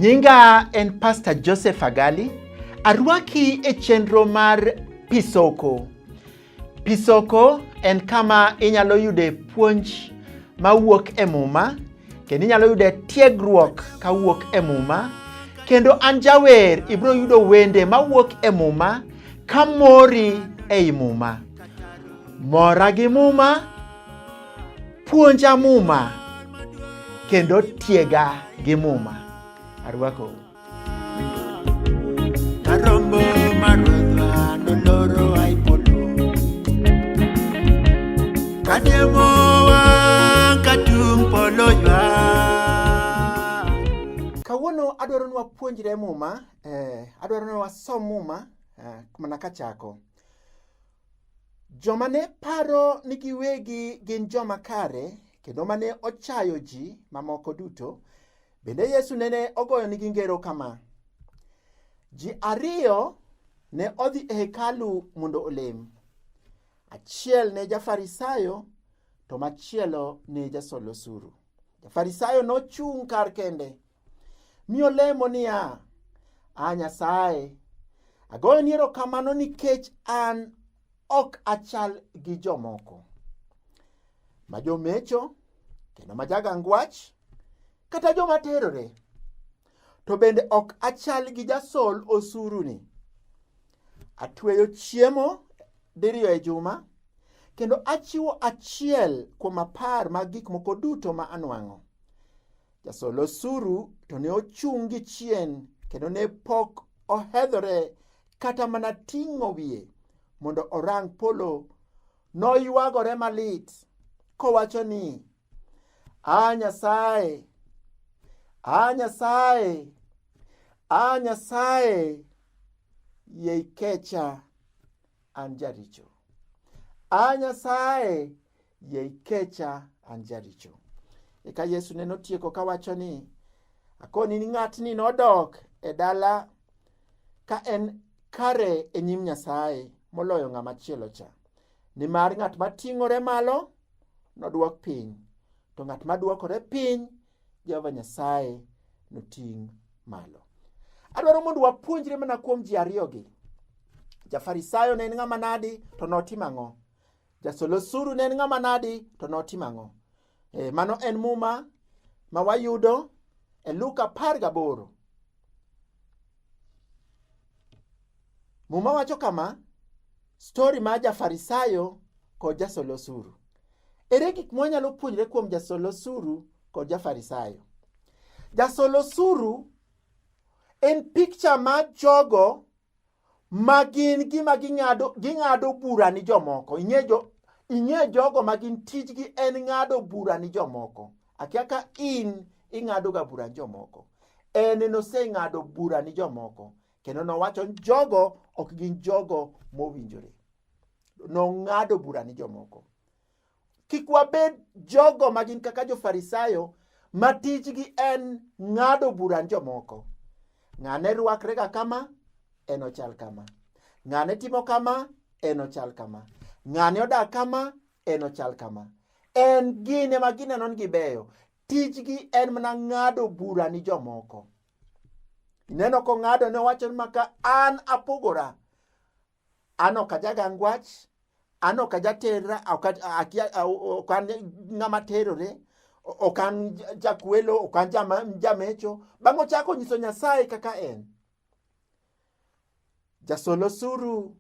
Nyinga en Pastor Joseph Agali. Arwaki e chenro mar Pisoko. Pisoko en kama inyalo yude puonj mawuok e Muma kendo inyalo yude tiegruok kawuok e Muma kendo an jawer ibiro yudo wende mawuok e Muma ka mori ei Muma. Mora gi Muma, puonja Muma kendo tiega gi Muma. Arwakou. Kawuono adwaro ni wapuonjre Muma, eh, adwaro ni wasom Muma eh, mana kachako. Joma ne paro ni giwegi gin joma kare kendo mane ochayo ji mamoko duto Bende Yesu nene ogoyonigi ngero kama, ji ariyo ne odhi e hekalu mondo olem, achiel ne jafarisayo to machielo ne jasol osuru. Jafarisayo nochung' kar kende mi olemo niya, A Nyasaye, agoyoni erokamano nikech an Ok achal gi jomoko ma jomecho kendo ma jagang wach kata joma terore, to bende ok achal gi jasol osuruni. Atweyo chiemo diriyo e juma, kendo achiwo achiel kuom apar mag gik moko duto ma anwang'o. Jasol osuru to ne ochung' gi chien kendo ne pok ohedhore kata mana ting'o wiye mondo orang polo. Noywagore malit kowacho ni, A Nyasaye, a Nyasaye, a Nyasaye, yie ikecha an jaricho. A Nyasaye, Yie ikecha an jaricho. Eka Yesu ne notieko kawacho ni, akoni ni ng'atni nodok e dala ka en kare e nyim Nyasaye moloyo ng'ama chielo cha. Nimar ng'at ma ting'ore malo nodwok piny, to ng'at ma dwokore piny Jehova Nyasaye noting' malo. Adwaro mondo wapuonjre mana kuom ji ariyogi. Jafarisayo ne en ng'ama nadi to notimo ang'o? Jasol osuru ne en ng'ama nadi to notimo ang'o? E, mano en muma ma wayudo e Luka apar gaboro. Muma wacho kama, stori ma jafarisayo kod jasol osuru. Ere gik mwanyalo puonjre kuom jasol osuru kod jafarisayo? Jasol osuru en picha ma jogo ma gin gima ging'ado ging'ado bura ni jomoko ing'e jo ing'e jogo ma gin tijgi en ng'ado bura ni jomoko akia ka in ing'ado ga bura ni jomoko en noseng'ado bura ni jomoko kendo nowacho jogo ok gin jogo mowinjore nong'ado bura ni jomoko Kik wabed jogo ma gin kaka jofarisayo ma tijgi en ng'ado bura ni jomoko. Ng'ane rwakrega kama, en ochal kama. Ng'ane timo kama, en ochal kama. Ng'ane odak kama, en ochal kama. En gin ema gineno ni gibeyo. Tijgi en mana ng'ado bura ni jomoko. Ineno kong'ado ne owacho ni maka an apogora. An ok ajagang wach, an ok ajaterra, ok an ng'ama terore, ok an jakwelo, ok an jamecho. Bang' ochako nyiso Nyasaye kaka en. Jasol osuru,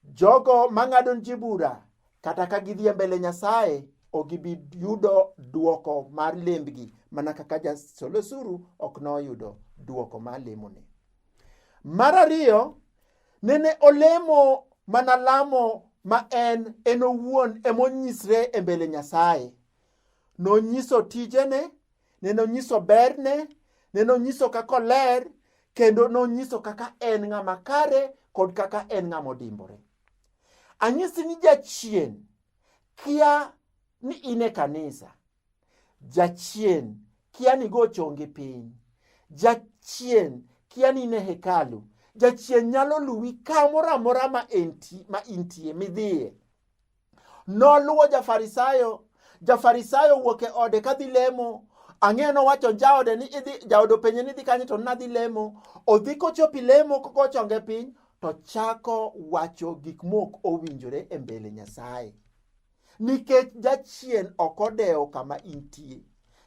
jogo mang'ado ji bura, kata ka gidhi e mbele Nyasaye, ok gibi yudo duoko mar lembgi, mana kaka jasol osuru ok noyudo duoko mar lemone. Mar ariyo, nene olemo mana lamo ma en en owuon emonyisre e mbele Nyasaye. Nonyiso tijene, nene onyiso berne, nene onyiso kaka oler, kendo nonyiso kaka en ng'ama kare kod kaka en ng'ama odimbore. Anyisi ni jachien kia ni in e kanisa. Jachien kia ni go chongi piny. Jachien kia ni ne hekalu. Jachien nyalo luwi kamoro amora ma enti ma intie midhiye. Noluwo jafarisayo, jafarisayo wuok e ode kadhi lemo ang'eyo nowacho jaode ni idhi jaode openje ni idhi kanye to nadhi lemo odhi kochopi lemo kochonge piny to chako wacho gik mok owinjore e mbele nyasaye nikech jachien ok odewo kama intie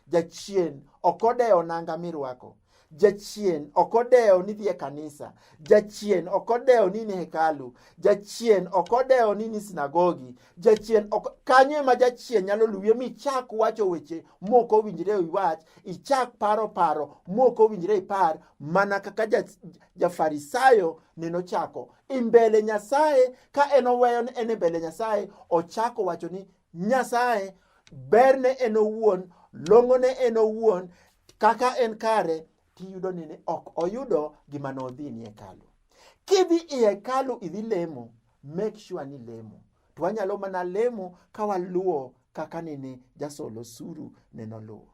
jachien ok odewo nanga mirwako jachien ok odewo ni dhie kanisa jachien ok odewo ni ni hekalu jachien ok odewo ni ni sinagogi jachien kanyo ema jachien nyalo luwie mi chak wacho weche moko owinjre iwach ichak paro paro moko owinjre ipar mana kaka jafarisayo ja nenochako e mbele Nyasaye ka en oweyo ni en e mbele Nyasaye ochako wacho ni Nyasaye berne en owuon long'one en owuon kaka en kare tiyudo ni ok oyudo gima nodhi ni hekalu kidhi i hekalu idhi lemo make sure ni lemo to wanyalo mana lemo ka waluwo kaka nene jasolo suru ne noluwo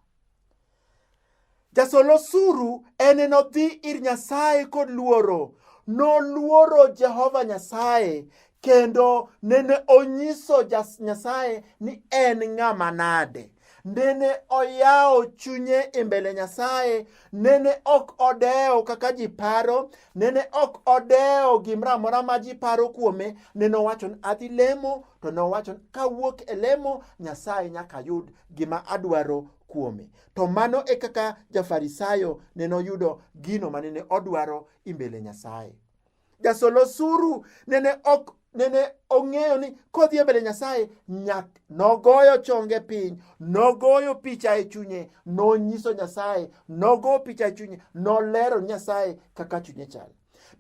Jasol osuru ene nodhi ir Nyasaye kod luoro. Noluoro Jehova Nyasaye kendo nene onyiso Nyasaye ni en ng'ama nade. Nene oyawo chunye e mbele Nyasaye, nene ok odewo kaka ji paro, nene ok odewo gimoro amora ma ji paro kuome. Nene owacho ni adhi lemo, to ne owacho ni kawuok e lemo, Nyasaye nyaka yud gima adwaro kuome. To mano e kaka jafarisayo ne noyudo gino mane ne odwaro imbele Nyasaye. Jasolo suru nene ok nene ong'eyo ni kodhi e mbele Nyasaye nyak nogoyo chonge piny, nogoyo picha e chunye, nonyiso Nyasaye, nogo picha e chunye, nolero Nyasaye kaka chunye chal.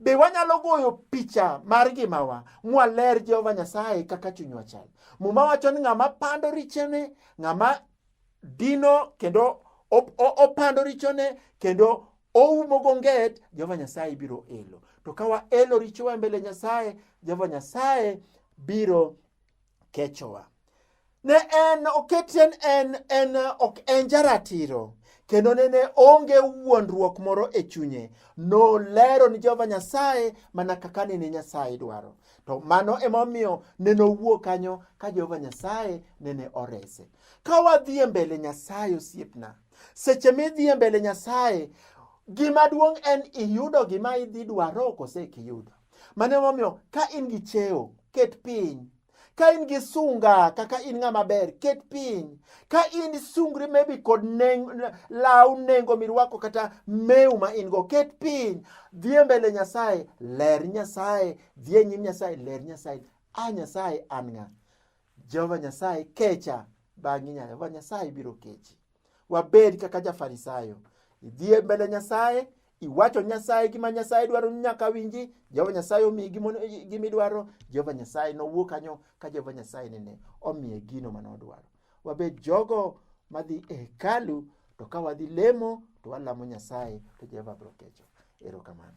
Be wanyalo goyo picha mar ngimawa mwaler Jehova Nyasaye kaka chunywa chal? Muma wacho ni ng'ama pando richene, ng'ama dino kendo opando richone kendo oumo gonget jehova nyasaye biro elo to ka waelo richowa mbele nyasaye jehova nyasaye biro kechowa ne en oketen en en ok en jaratiro kendo nene onge wuondruok moro e chunye nolero ni jehova nyasaye mana kaka nene nyasaye dwaro to mano emomiyo nene owuo kanyo ka jehova nyasaye nene orese Ka wadhi e mbele Nyasaye osiepna, seche midhi e mbele Nyasaye, gima duong' en iyudo gima idhi dwaro kose kiyudo. Mane momiyo ka in gi cheo, ket piny ka in gi sunga kaka in ng'ama ber ket piny ka in sungri maybe kod neng, law nengo mirwako kata meu ma in go ket piny dhie mbele nyasaye ler nyasaye dhie nyim nyasaye ler nyasaye a nyasaye an ng'a Jehova Nyasaye kecha bang'i nya Jehova Nyasaye biro kechi. Wabed kaka jafarisayo. Idhi e mbele Nyasaye, iwacho Nyasaye gima Nyasaye dwaro ni nyaka winji, Jehova Nyasaye omiyi gima ono- gima idwaro, Jehova Nyasaye nowuo kanyo ka Jehova Nyasaye nene omiye gino mane odwaro. Wabed jogo madhi e hekalu to ka wadhi lemo to walamo Nyasaye to Jehova biro kecho. Erokamano.